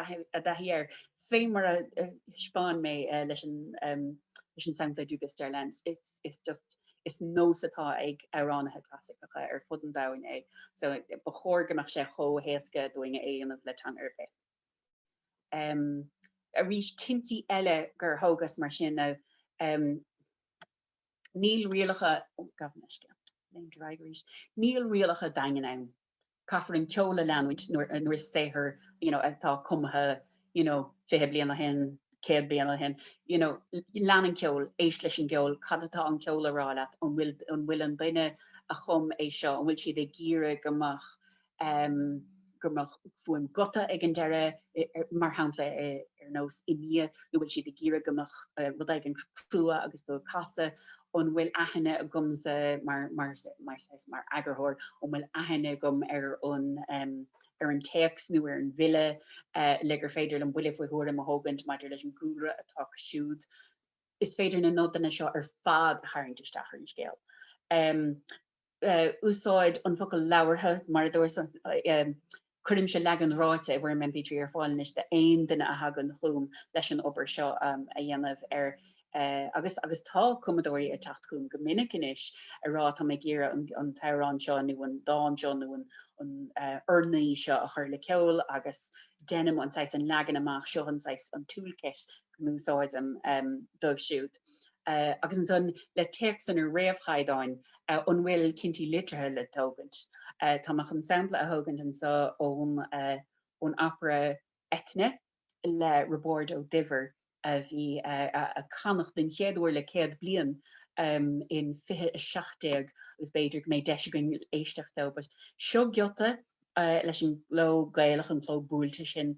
dtaithí air, fé mar a thaispeáin mé leis, leis an sampla Du bist der Lenz. It's just, is nós atá ag amhránaithe clasaiceacha ar fud an domhain é, so ba chóir go mbeadh sé chomh héasca dúinn é a dhéanamh le teanga ar bith. Arís, cinntí eile gur thógas, mar sin, ná. Níl rialacha Níl rialacha daingean ann. Caithfear an ceol a leanúint nuair nuair is saothar you know atá cumtha you know fiche bliain ó shin, céad bliain ó shin, you know lean an ceol, éist leis an gceol, cad atá an ceol ag rá leat, an bhfuil an bhfuil an duine a chum é seo, an bhfuil siad ag iarraidh go mbeadh go mbeadh fuaim guta ag an deireadh, mar shampla ar nós i ndiaidh nó bhfuil siad ag iarraidh go mbeadh rud éigin crua agus do casadh, an bhfuil aithne agamsa mar mar mar saghas mar eagarthóir, an bhfuil aithne agam ar an ar an téacs nó ar an bhfile le gur féidir liom buille faoi thuairim a thógaint maidir leis an gcúlra atá acu siúd. Is féidir na nodanna seo ar fad a tharraingt isteach ar an scéal. úsáid an focal labhartha, mar a dúrtsa, cuirimse leagan ráite i bhfoirm MP3 ar fáil anois d'aon duine a thagann chugam leis an obair seo a dhéanamh ar agus agus tá cumadóirí ag teacht chugam go minic anois ag rá tá mé ag iarraidh an t-amhrán seo nó an dán seo nó an an urnaí seo a chur le ceol agus deinim an saghas an leagan amach seo an saghas an toolkit go n-úsáidim dóibh siúd. agus ansan le téacsanna réamhchaighdeáin an bhfuil cinntí litrithe le tógaint. Tá mé chun sampla a thógaint anso ón opera Eithne le Roibeárd Ó Duibhir a bhí á canadh don chéad uair le céad bliain in 2017 agus b'fhéidir go mbeidh deis againn éisteacht dó, but seo giota leis an gcló Gaelach, an cló buailte sin,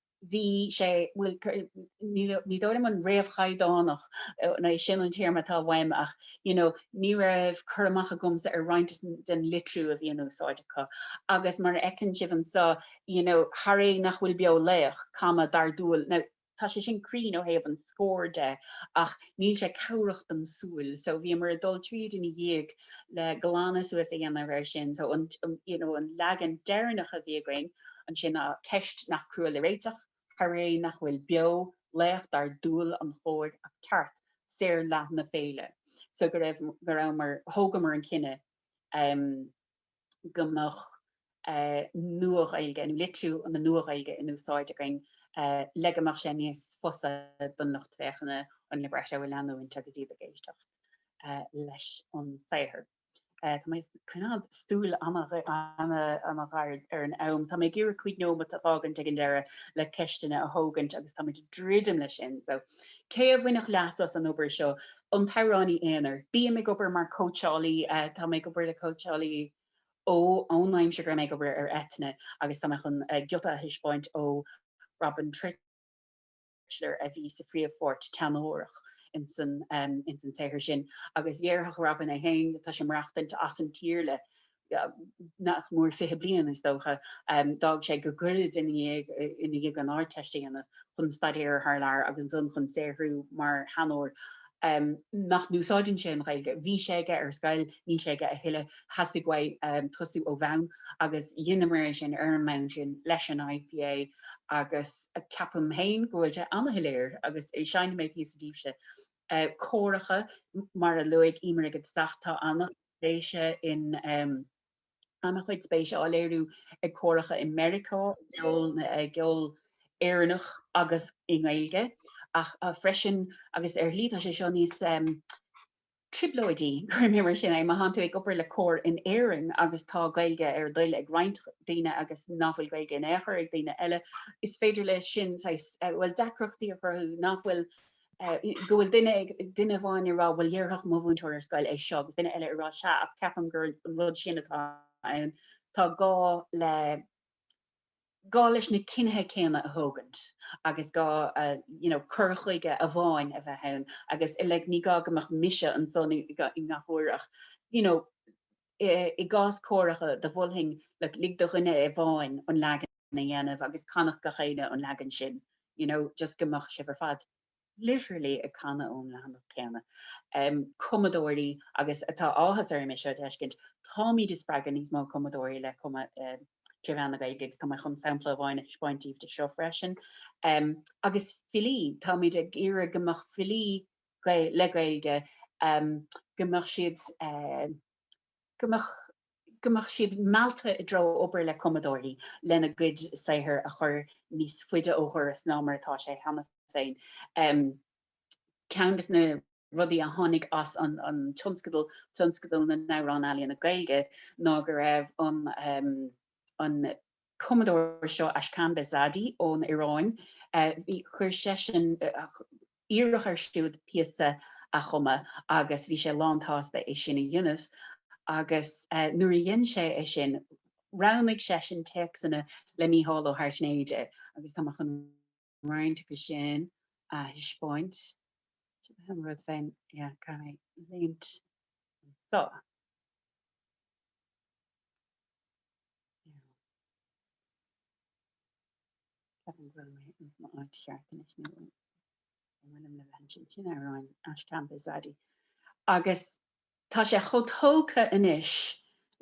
bhí sé, bhuel, ní dóigh liom an réamhchaighdeánach, an é sin an téarma atá uaim ach, you know, ní raibh cur amach agamsa ar roinnt den litriú a bhí in úsáid acu agus mar a fheiceann sibh anso, you know, thar é nach bhfuil beo laoch, comma, dar dual, now, tá sé sin cruinn ó thaobh an scóir de ach níl sé cabhrach don súil so bhíomar ag dul tríd ina dhiaidh le glanadh suas a dhéanamh air sin so an, you know, an leagan deireanach a bhí againn, ansin ná ceist nach crua le réiteach, thar é nach bhfuil beo, laoch dar dual an chóir ach Ceart, saorfhlaith na féile. So go raibh, go rabhamar, thógamar an cinneadh em go mbeadh eh Nua-Ghaeilge, nó litriú na Nua-Ghaeilge in úsáid againn eh le go mbeadh sé níos fusa don lucht féachana, an libretto a leanúint agus iad ag éisteacht eh leis an saothar. Tá mé ag coimeád súil ana-ghéar ar an am. Tá mé ag iarraidh cúig nóimeat a fhágaint ag an deireadh le ceisteanna a thógaint agus táimid ag druidim leis sin. So, cé a bhainfeadh leas as an obair seo? An t-amhránaí aonair. Bím ag obair mar chóitseálaí. Tá mé ag obair le cóitseálaí ó ón aimsir go raibh mé ag obair ar Eithne agus tá mé chun giota a thaispeáint ó Robin Tritschler a bhí sa phríomhpháirt teanórach ins an saothar sin agus dhéarfadh Robin é féin, tá sé ag maireachtaint as an tír le nach mór fiche bliain, is dócha, d'fhág sé go gairid i ndiaidh an Ardteist a dhéanamh chun staidéar thar lear agus ansan chun saothrú mar theanór. nach n-úsáideann sé an Ghaeilge. Bhí sé aige ar scoil, níl sé aige a thuilleadh. Theastaigh uaidh tosú ó bhonn agus dheineamar é sin ar an mbonn sin leis an IPA agus ceapaim féin go bhfuil sé ana-shoiléir agus seinnfidh mé píosa daoibhse. Córacha, mar a luaigh Emer ag an dtosach, tá ana-spéise in. ana-chuid spéise á léiriú ag córacha i Meiriceá i gceol Éireannach agus i nGaeilge ach freisin agus ar shlí tá sé seo níos trioblóidí, cuirfidh mé mar sin é, má thánn tú ag obair le cór in Éirinn agus tá Gaeilge ar a dtoil ag roinnt daoine agus nach bhfuil Gaeilge in aon chor ag daoine eile. Is féidir leis sin, bhuel, deacrachtaí a chruthú nach bhfuil go bhfuil duine ag, duine amháin ag rá bhuel dhéarfadh mo mhúinteoir ar scoil é seo agus duine eile ag rá sea ach ceapaim gur an rud sin atá ann, tá gá le, gá leis na cinnithe céanna a thógaint agus gá you know cur chuige amháin a bheith ann agus like ní gá go mbeadh mise anso i ngach uair ach you know I gcás córacha do mholfainn like lig do dhuine amháin an leagan a dhéanamh agus canfadh gach éinne an leagan sin you know just go mbeadh sibh ar fad literally ag canadh ón leathanach céanna. Em cumadóirí agus tá áthas orm é seo a d'fheiscint táimid ag spreagadh níos mó cumadóirí le cumadh em trí mheán na Gaeilge agus tá mé chun sampla amháin a thaispeáint daoibh de seo freisin. Em agus filí táimid ag iarraidh go mbeadh filí le Gaeilge, go mbeadh siad go mbeadh siad meallta i dtreo obair le cumadóirí lena gcuid saothair a chur níos faide ó dhoras ná mar atá sé cheana féin. Ceann de na rudaí a tháinig as an an tionscadal, Tionscadal na nAmhrán Ealaíne Gaeilge, ná go raibh an an cumadóir seo Ashkan Behzadi ón Iaráin, chuir seisean iarradh air siúd píosa a chumadh agus bhí sé lán-tsásta é sin a dhéanamh agus nuair a dhein sé é sin roghnaigh seisean téacsanna le Mícheál Ó hAirtnéide agus tá mé chun roinnt acu sin a thaispeáint. Seo ba an rud féin a chaithfeadh léimt anseo. Ceapaim go bhfuil mé ins mo áit cheart anois nó an bhfuilim le bheith ansin? Sin amhráin Ashkan Behzadi agus Tá sé chomh tógtha anois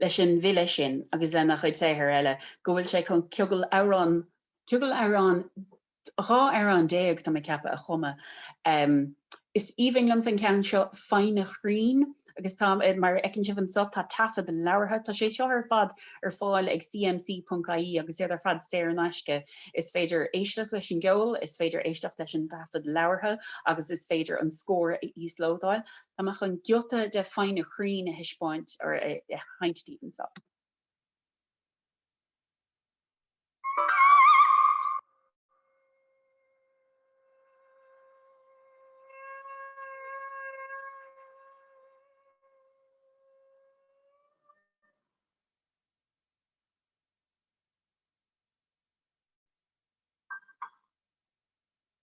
leis an bhfile sin agus lena chuid saothar eile go bhfuil sé chun ciogal amhrán, ciogal amhrán, dhá amhrán déag tá mé ag ceapadh, a chumadh. Is aoibhinn liomsa an ceann seo, Foighne Chrainn, agus tá, mar a fheiceann sibh anseo, tá taifead labhartha, tá sé seo ar fad ar fáil ag CMC.ie agus iad ar fad saor in aisce. Is féidir éisteacht leis an gceol, is féidir éisteacht leis an taifead labhartha agus is féidir an scór a íoslódáil. Tá mé chun giota de Foighne Chrainn a thaispeáint or a sheinnt daoibh anseo.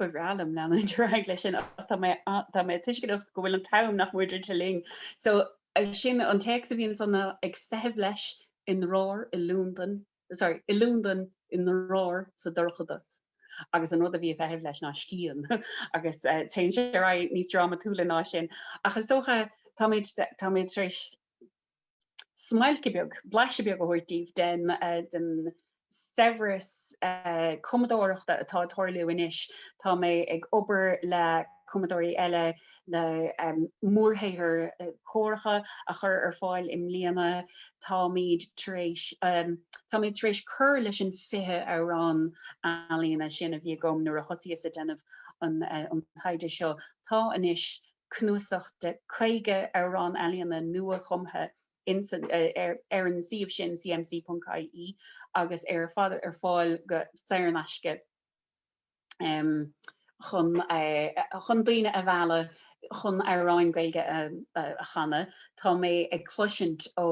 ba bhreá liom leanúint ar aghaidh leis sin ach tá mé a- tá mé tuisceanach go bhfuil an t-am nach mór istigh linn. So eh, sin an téacs a bhíonn Suzanne ag feitheamh leis i ndrár i Londain i Londain, i ndrár, sa dorchadas, agus an rud a bhí ag feitheamh leis ná scian, agus téann sé ar aghaidh níos drámatúla ná sin, ach is dócha, táimid, táimid tar éis smailc bheag, blaiseadh beag a thabhairt daoibh den, den saibhreas cumadóireachta atá ag tarlú anois. Tá mé ag obair le cumadóirí eile. le mórshaothar córach a chur ar fáil i mbliana táimid tar éis táimid tar éis cur leis an 20 amhrán ealaíne sin a bhí agam nuair a thosaíos ag déanamh an an taighde seo. Tá anois cnuasach de 50 amhrán ealaíne nua-chumtha ins an ar ar an suíomh sin cmc.ie agus ar fad ar fáil go saor in aisce. chun daoine a mhealladh chun amhráin Gaeilge a chanadh. Tá mé ag cloisint ó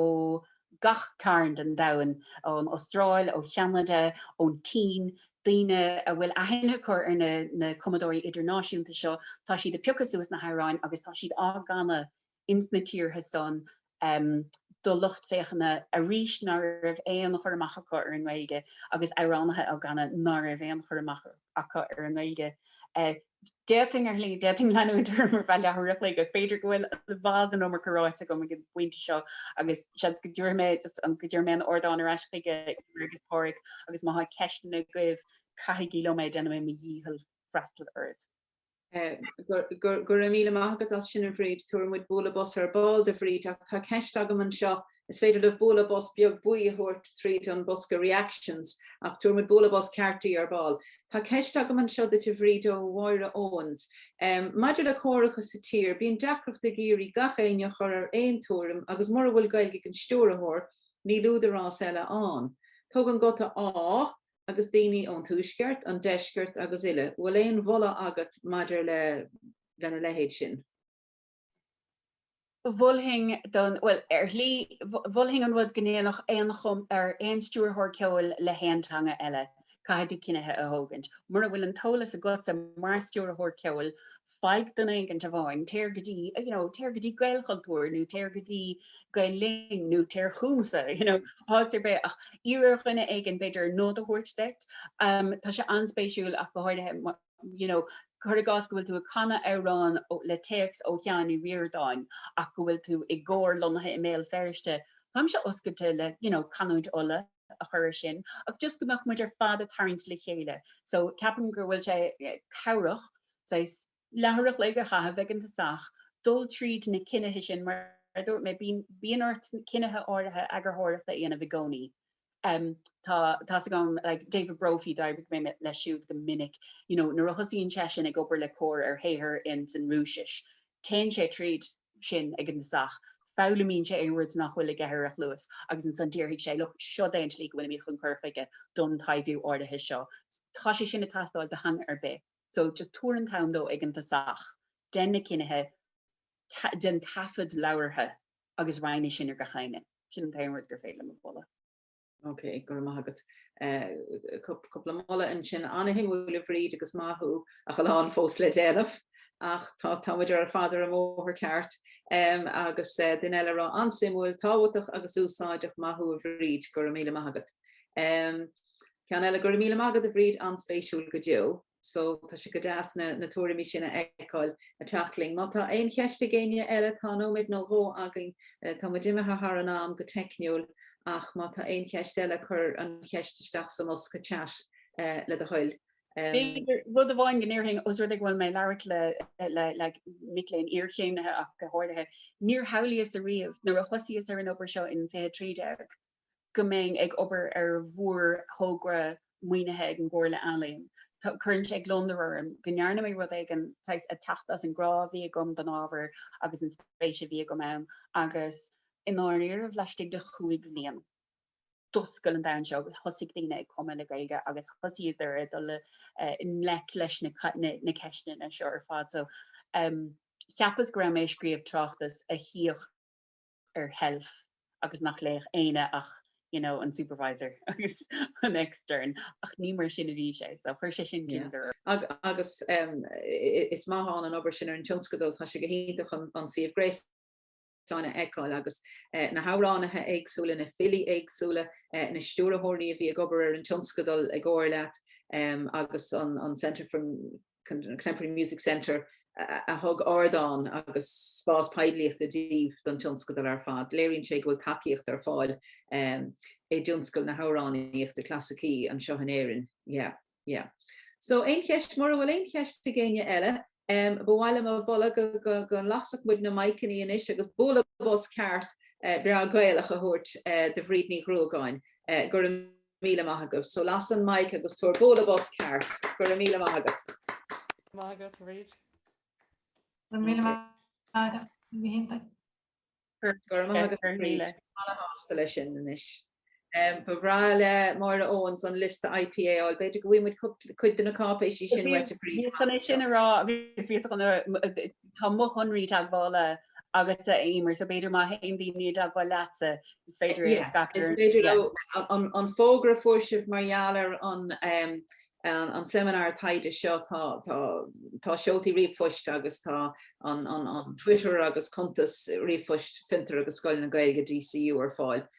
gach cearn den domhan, ón Astráil, ó Cheanada, ón tSín, daoine a bhfuil aithne acu ar na cumadóirí idirnáisiúnta seo, tá siad ag piocadh suas na hamhráin agus tá siad á gcanadh ins na tíortha san do lucht féachana arís ná raibh aon chur amach acu ar an nGaeilge agus amhránaithe á gcanadh ná raibh aon chur amach acu ar an nGaeilge. D'fhéadfainn, ar shlí, d'fhéadfainn leanúint orm ar feadh leathuair an chloig ach b'fhéidir go bhfuil i bhfad an iomarca ráite agam ag an bpointe seo agus seans go dtabharfaidh mé just an go dtabharfaidh mé an ardán ar ais chuig Emer agus Pádraig agus má tá ceisteanna agaibh caithigí liom é, déanfaidh mé mo dhícheall freastal oraibh. Go raibh míle maith agat as sin a Bhríd. Tabharfaidh muid bualadh bos ar ball do Bhríd ach tá ceist agam anseo, is féidir libh bualadh bos beag buí a thabhairt tríd an bosca Reactions ach tabharfaidh muid bualadh bos ceart di ar ball. Tá ceist agam anseo duit a Bhríd ó Mháire Owens. Maidir le córacha sa tír, bíonn deacracht ag iarraidh gach éinne a chur ar aon tuairim agus mura bhfuil Gaeilge ag an stiúrthóir níl údarás eile ann. Tugann guta 'Á' agus daoine ón Tuaisceart, an Deisceart agus uile, bhfuil aon mholadh agat maidir lena leithéid sin? Mholfainn don, bhuel, ar shlí, mholfainn an rud go ndéanfadh aon, ar aon stiúrthóir ceoil le haon teanga eile, caithfidh tú cinnithe a thógaint, mura bhfuil an t-eolas agatsa mar stiúrthóir ceoil faigh duine éigint amháin, téir go dtí, you know, téir go dtí Gaelchultúr nó téir go dtí Gael Linn nó téir chugamsa, you know, háit ar bith ach iarr ar dhuine éigin b'fhéidir nod a thabhairt duit. Um, tá sé anspéisiúil ach go háirithe you know, cuir i gcás go bhfuil tú ag canadh amhrán le téacs ó Sheán Ó Ríordáin ach go bhfuil tú i gcór lonnaithe i mBéal Feirste, táimse oscailte le you know, canúint Uladh. a chur ar sin ach just go mbeadh muid ar fad a' tarraingt le chéile so ceapaim go bhfuil sé cabhrach saghas leathuair an chloig a chaitheamh ag an tosach dul tríd na cinnithe sin mar a dúirt mé bíonn bíonn ort cinnithe áirithe eagarthóireacht a dhéanamh i gcónaí em tá a fhios agam like David Brophy d'oibrigh mé leis siúd go minic you know nuair a thosaíonn seisean ag obair le cór ar shaothar in san Rúisis téann sé tríd sin ag an tosach, foghlaimíonn sé aon rud nach bhfuil aige ar a chluas agus ansan déarfaidh sé, look, seod é an tslí go bhfuilimid chun cur faoi don taibhiú áirithe seo. Tá sé sin ag teastáil do theanga ar bith. So just tabhair an t-am dó ag an tosach, dein na cinnithe, dein taifead labhartha agus roinn é sin ar gach éinne. Sin an t-aon rud gur féidir liom a mholadh. Ok, go raibh maith agat. Cúpla moladh ansin. An-suimiúil a Bhríd agus maith thú agus a lán fós le déanamh ach tá tá muid ar fad ar an mbóthar ceart. Agus duine eile a rá an-suimiúil, tábhachtach agus úsáideach maith thú a Bhríd. Go raibh míle maith agat. Ceann eile Go raibh míle maith agat a Bhríd an-spéisiúil go deo. So, tá sé go deas na na tuairimí sin a fheiceáil ag teacht chugainn. Má tá aon cheist ag éinne eile, tá nóiméad nó dhó againn. Tá muid imithe thar an am go teicniúil ach má tá aon cheist eile, cuir an cheist isteach sa mbosca chat le do thoil. B'fhéidir rud amháin go ndéarfainn, os rud é go bhfuil mé ag labhairt le le le mic léinn iarchéimnithe ach go háirithe, níor shamhlaíos ariamh nuair a thosaíos ar an obair seo in 2013, go mbeinn ag obair ar mhórthogra maoinithe ag an gComhairle Ealaíon. Cuireann sé gliondar orm go ndearna mé rud éigin saghas ag teacht as an ngrá a bhí agam don ábhar agus an spéis a bhí agam ann agus i ndáiríribh, laistigh de chúig bhliain, d'oscail an domhan seo agus thosaigh daoine ag cumadh le Gaeilge agus thosaíodar ag dul i ngleic leis na ceisteanna seo ar fad. So, cheapas go raibh mé ag scríobh tráchtas a shuíodh. ar sheilf agus nach léifeadh éinne ach you know an supervisor agus an extern ach ní mar sin a bhí sé so chuir sé sin gliondar orm. Agus is maith ann an obair sin ar an tionscadal, tá sé go hiontach an suíomh gréasáin a fheiceáil agus na hamhránaithe éagsúla, na filí éagsúla, na stiúrthóirí a bhí ag obair ar an tionscadal i gcomhar leat agus an Centre for. Contemporary Music Centre, a thug ardán agus spás poiblíochta díobh don tionscadal ar fad. Léiríonn sé go bhfuil tacaíocht ar fáil i dtionscal na hamhránaíochta clasaicí anseo in Éirinn. Yeah. Yeah. So, aon cheist? Mura bhfuil aon cheist ag éinne eile, ba mhaith liom a mholadh go lasfadh muid na maiceanna anois agus bualadh bos ceart breá Gaelach a thabhairt do Bhríd Ní Ghruagáin. Go raibh. míle maith agat. So las an maic agus tabhair bualadh bos ceart. Go raibh míle maith agat. Maith agat Bríd. Go raibh míle maith agat. Bhí go hiontach. Go raibh maith agat Bríd. Má tá tú sásta leis sin anois. Um, ba bhreá le Máire Owens an liosta IPA a fháil. B'fhéidir go bhfaighimid cuid de na cáipéisí sin uait a Bhríd. Bhíos chun é sin a rá, bhíos chun tá mo shonraí teagmhála agat a Éimear, so b'fhéidir má théann daoine i dteagmháil leatsa, is féidir é a scaipeadh. An fógra a fuair sibh mar gheall ar an seimineár taighde seo, tá tá seoltaí ríomhphoist agus tá an Twitter agus cuntas ríomhphoist Fiontar agus Scoil na Gaeilge, DCU, ar fáil.